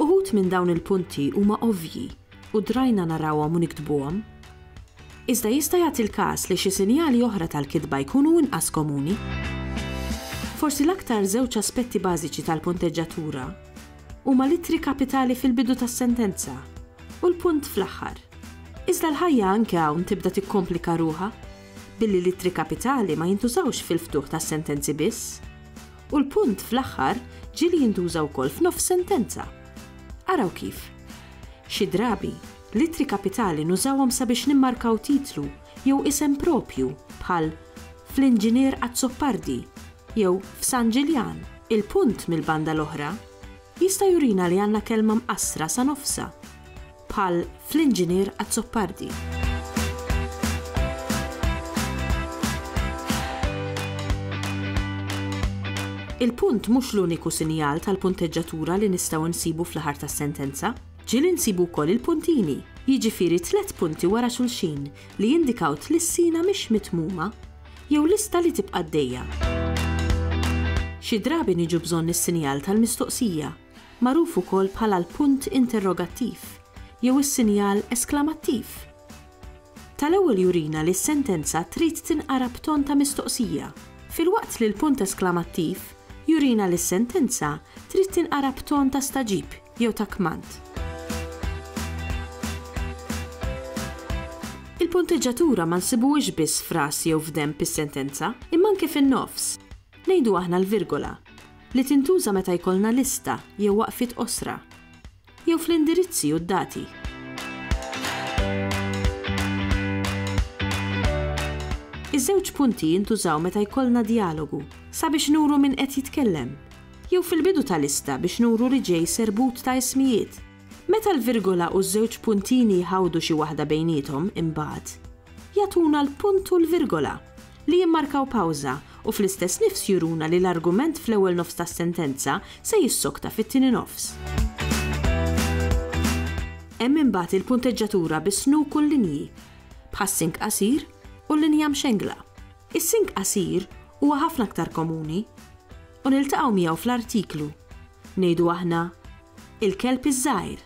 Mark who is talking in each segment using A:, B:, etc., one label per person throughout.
A: Uħud minn dawn il-punti huma ovvji u drajna narawhom u niktbuhom. Iżda jista' jagħti l-każ li xi sinjali oħra tal-kitba jkunu inqas komuni. Forsi l-aktar żewġ aspetti bażiċi tal-punteġġatura huma l-ittri kapitali fil-bidu tas-sentenza u l-punt fl-aħħar. Iżda l-ħajja anke hawn tibda tikkomplika ruħha, billi l-ittri kapitali ma jintużawx fil-ftuħ tas-sentenzi biss, U l-punt fl-aħħar ġieli jintuża wkoll f'nofs sentenza. Araw kif. Xi drabi, l-ittri kapitali nużawhom sabiex nimmarkaw titlu jew isem proprju, bħal fl-Inġinier Azzopardi jew f'San Ġiljan. Il-punt, mill-banda l-oħra, jista' jurina li għandna kelma mqassra sa nofsha. bħal fl-Inġinier Azzopardi. Il-punt mhux l-uniku sinjal tal-punteġġatura li nistgħu nsibu fl-aħar tas-sentenza. Ġiel insibu wkoll il-puntini, jiġifieri tliet punti wara xulxin li jindikaw tlissina mhix mitmuma jew lista li tibqa' dejja. Xi drabi niġu bżonn is-sinjal tal-mistoqsija magħruf ukoll bħala l-punt interrogattiv jew is-sinjal esklamattiv. Tal-ewwel jurina li s-sentenza trid tinqara b'ton ta' mistoqsija, filwaqt li l-punt esklamattiv jurina li s-sentenza trid tinqara b'ton ta' stagħġib jew ta' kmand. Il-punteġġatura ma nsibuhiex biss f'ras jew f'denb is-sentenza, imma anke fin-nofs. Ngħidu aħna l-virgola, li tintuża meta jkollna lista jew waqfiet qosra, jew fl-indirizzi u d-dati. Iż-żewġ punti jintużaw meta jkollna djalogu, sabiex nuru min qed jitkellem, jew fil-bidu ta' lista biex nuru li ġej serbut ta' ismijiet, Meta l-virgola u ż-żewġ puntini jħawdu xi waħda bejniethom, imbagħad, jagħtuna l-punt u l-virgola, li jimmarkaw pawża u fl-istess nifs juruna li l-argument fl-ewwel nofs tas-sentenza se jissokta fit-tieni nofs. Hemm imbagħad il-punteġġatura bis-snuk u l-linji, bħas-sink qasir u l-linja mxengla. Is-sink qasir huwa ħafna aktar komuni. U niltaqgħu miegħu fl-artiklu, ngħidu aħna, il-kelb iż-żgħir.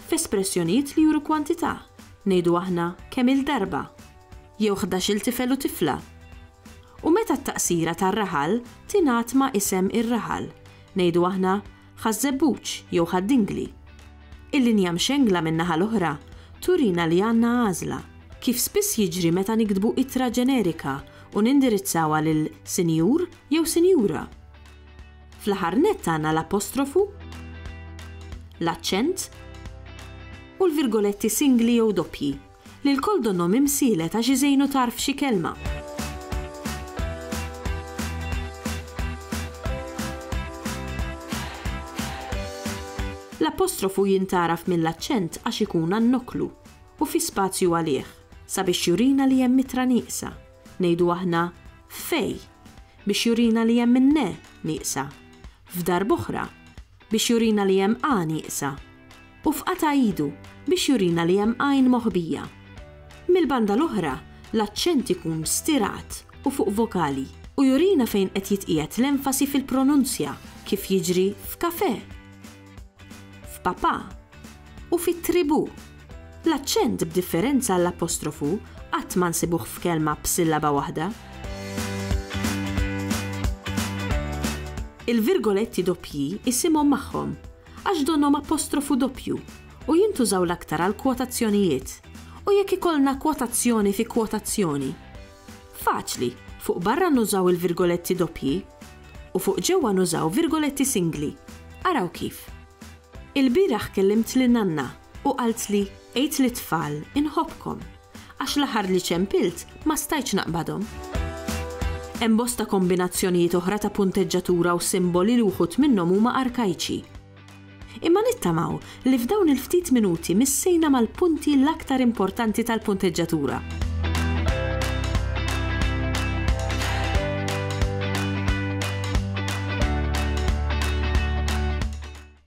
A: F'espressjonijiet li juru kwantità, ngħidu aħna kemm-il darba, jew ħdax-il tifel u tifla. U meta t-taqsira tar-raħal tingħad ma' isem ir-raħal, ngħidu aħna Ħaż-Żebbuġ jew Ħad-Dingli. Il-linja mxengla min-naħa l-oħra turina li għandna għażla, kif spiss jiġri meta niktbu ittra ġenerika u nindirizzawha lil Sinjur jew Sinjura. Fl-aħħar nett għandna l-apostrofu, l-aċċent u l-virgoletti singli jew doppji. Lil kull dunnhom imsielet għax iżejnu tarf xi kelma. L-apostrofu jintgħaraf mill-aċċent għax ikun għan-noklu u fi spazju għalih, sabiex jurina li hemm itra nieqsa, ngħidu aħna f'fej, biex jurina li hemm in-ne nieqsa, f'darb'oħra, biex jurina li hemm għan iqsa, u f'qata' idu biex jurina li hemm għajn moħbija. Mill-banda l-oħra, l-aċċent ikun stirat u fuq vokali, u jurina fejn qed jitqiegħed l-enfasi fil-pronunzja, kif jiġri f'kafè, f'papà u fit-tribù. L-aċċent b'differenza għall-apostrofu qatt ma nsibuh f'kelma b'sillaba waħda. Il-virgoletti doppji isimhom magħhom għax donnhom apostrofu doppju u jintużaw l-aktar għall-kwotazzjonijiet u jekk ikollna kwotazzjoni fi kwotazzjoni. Faċli, fuq barra nużaw il-virgoletti doppji u fuq ġewwa nużaw virgoletti singli. Araw kif. Ilbieraħ kellimt lin-nanna U qaltli, Għid lit-tfal, inħobbkom, għax l-aħħar li ċempilt ma stajtx naqbadhom. Hemm bosta kombinazzjonijiet oħra ta' punteġġatura u simboli li wħud minnhom huma arkajċi. Imma nittamaw li f'dawn il-ftit minuti missejna mal-punti l-aktar importanti tal-punteġġatura.